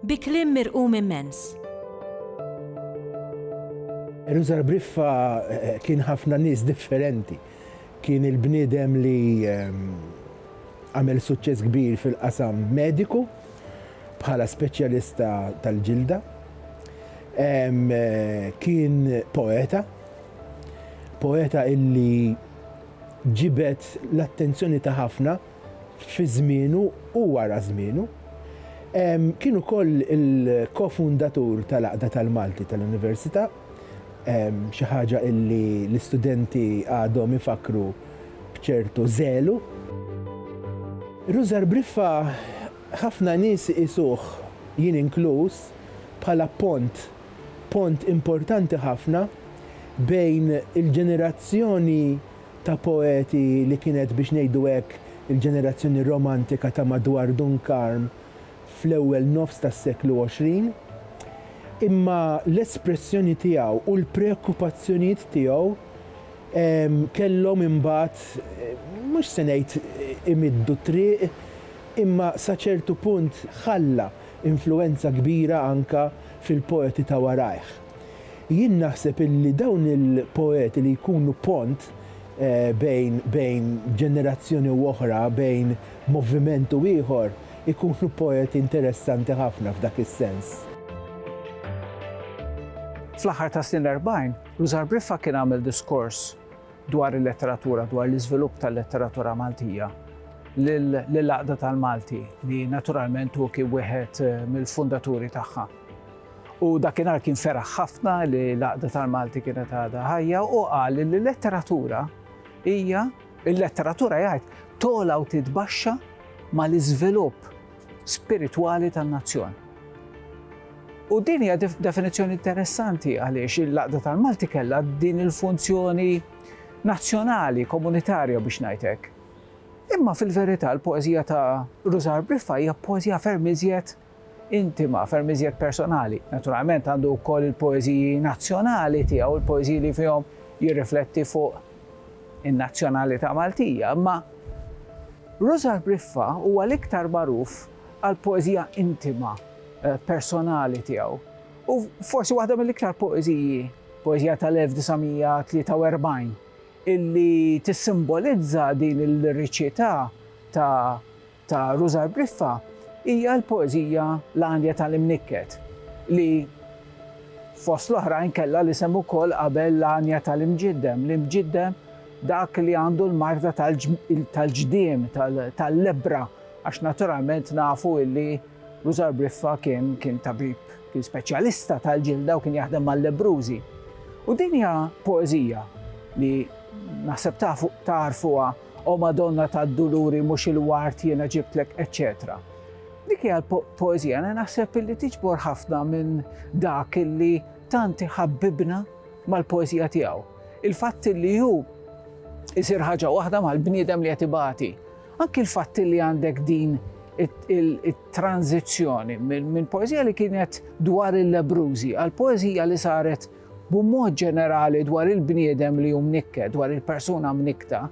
Bi kliem mirqum immens. Eluzar Briffa kien ħafna nies differenti. Kien il-bniedem li għamel suċċess kbir fil-qasam mediku bħala speċjalista tal-ġilda. Kien poeta, poeta illi ġibed l-attenzjoni ta' ħafna fi żmienu u wara żmienu. Kien ukoll il-kofundatur tal-Għaqda tal-Malti tal-Università, xi ħaġa illi l-istudenti għadhom ifakkru b'ċertu żelu. Rużar Briffa ħafna nies iqisuh, jien inkluż, bħala pont, pont importanti ħafna bejn il-ġenerazzjoni ta' poeti li kienet biex ngħidu hekk il-ġenerazzjoni romantika ta' madwar Dun Karm fl-ewwel nofs tas-seklu għoxrin. Imma l-espressjoni tiegħu u l-preokkupazzjonijiet tiegħu kellhom imbagħad mhux se ngħid imiddu t-triq imma sa ċertu punt ħalla influwenza kbira anke fil-poeti ta' warajh. Jien naħseb illi dawn il-poeti li jkunu pont bejn bejn ġenerazzjoni u oħra, bejn moviment u ieħor, ikunu poeti interessanti ħafna f'dak is-sens. Fl-aħħar tas-snin l-erbgħin, Rużar Briffa kien għamel diskors dwar il-letteratura, dwar l-iżvilupp tal-letteratura Maltija lill-Għaqda tal-Malti li naturalment hu kien wieħed mill-fundaturi tagħha. U dakinhar kien feraħ ħafna li l-Għaqda tal-Malti kienet għadha ħajja u qal li l-letteratura hija il-letteratura jgħid tola u titbaxxa mal-iżvilupp spiritwali tan-nazzjon. U din hija definizzjoni interessanti għaliex il-laqda tal-Malti kellha din il-funzjoni nazzjonali, komunitarja biex ngħidlek. Imma fil-verità l-poeżija ta' Rużar Briffa hija poeżija ferm iżjed intima, ferm iżjed personali. Naturalment għandu wkoll il-poeżiji nazzjonali tiegħu, il-poeżiji li fihom jirrifletti fuq in-nazzjonalità Maltija, imma Rużar Briffa huwa l-iktar magħruf għall-poeżija intima, personali tiegħu. U forsi waħda mill-iktar poeżiji, poeżija tal-1943, illi tissimbolizza din il-liriċità ta' ta' Rużar Briffa hija l-poeżija L-Għanja tal-Imnikket li, fost l-oħrajn, kellha l-isem ukoll qabel L-Għanja tal-Imġiddem, l-imġiddem dak li għandu l-marda tal-ġdiem, tal-lebbra, għax naturalment nafu li Rużar Briffa kien tabib, kien speċjalista tal-ġilda u kien jaħdem mal-lebbrużi. U din hija poeżija li naħseb tagħrfuha O Madonna tad-Duluri mhux il-ward jiena ġibtlek, eċċetera. Dik hija l-poeżija li naħseb illi tiġbor ħafna minn dak illi tant iħabbibna mal-poeżija tiegħu. Il-fatt illi hu isir ħaġa waħda mal-bniedem li qed ibati. Anki l-fatt illi għandek din it-tranzizzjoni minn poeżija li kienet dwar il-lebrużi għal poeżija li saret B'mod ġenerali dwar il-bniedem li hu mnikket, dwar il-persuna mnikkta,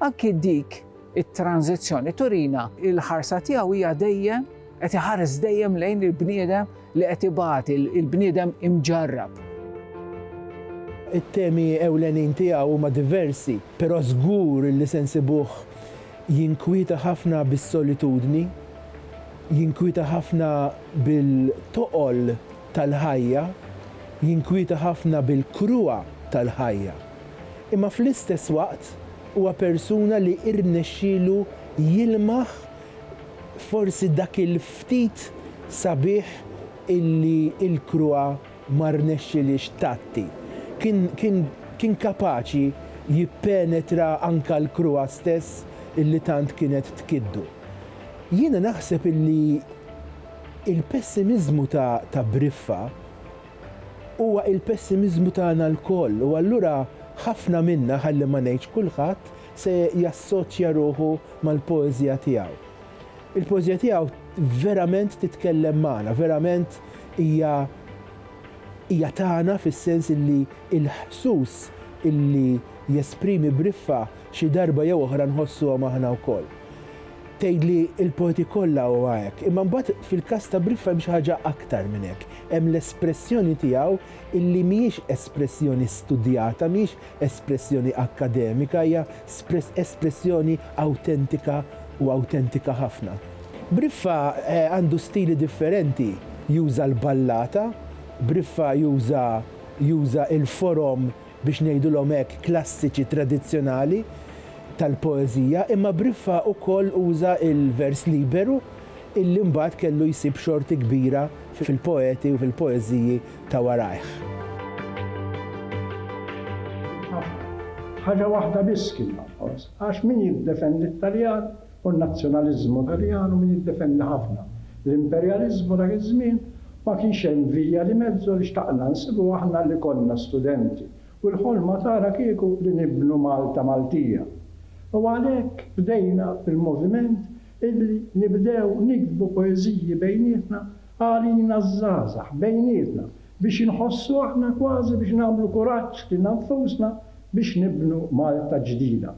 anki dik it-tranżizzjoni turina li l-ħarsa tiegħu hija dejjem qed iħares dejjem lejn il-bniedem li qed ibati, il-bniedem imġarrab. It-temi ewlenin tiegħu huma diversi, però żgur li se nsibuh jinkwieta ħafna bis-solitudni, jinkwieta ħafna bil-toqol, tal-ħajja jinkwieta ħafna bil-kruha tal-ħajja, imma fl-istess waqt huwa persuna li rnexxielu jilmaħ forsi dak il-ftit sabiħ illi l-kruha ma rnexxilhiex tgħatti. Kien, kien, kien kapaċi jippenetra anke l-kruha stess illi tant kienet tkiddu. Jiena naħseb illi Il-pessimiżmu ta' ta' Briffa huwa il-pessimiżmu tagħna lkoll u allura ħafna minna, ħalli ma ngħidx kulħadd, se jassoċja ruħu mal-poeżija tiegħu. Il-poeżija tiegħu verament titkellem magħna, verament hija hija tagħna fis-sens illi l-ħsus illi jesprimi Briffa xi darba jew oħra nħossuhom aħna wkoll. Tgħid li l-poeti kollha huwa hekk, imma mbagħad fil-każ ta' Briffa hemm xi ħaġa aktar minn hekk. Hemm l-espressjoni tiegħu illi mhijiex espressjoni studjata, mhijiex espressjoni akkademika, hija espressjoni awtentika u awtentika ħafna. Briffa għandu stili differenti, juża l-ballata, Briffa juża juża l-forom biex ngħidulhom hekk, klassiċi tradizzjonali tal-poeżija, imma Briffa ukoll uża l-vers liberu illi mbagħad kellu jsib xorti kbira fil-poeti u fil-poeżiji ta' warajh. Ħaġa waħda biss kien jonqos, għax min jiddefendi t-Taljan u n-nazzjonaliżmu Taljanu min jiddefendi ħafna l-imperjaliżmu dak iż-żmien, ma kienx hemm Via di Mezzo li xtaqna nsibu aħna li konna studenti u l-ħolma tagħna kieku li nibnu Malta Maltija. U għalhekk bdejna bil-moviment illi nibdew niktbu poeżiji bejnietna għalina ż-żgħażagħ bejnietna biex inħossu aħna kważi biex nagħmlu kuraġġ lilna nfusna biex nibnu Malta ġdida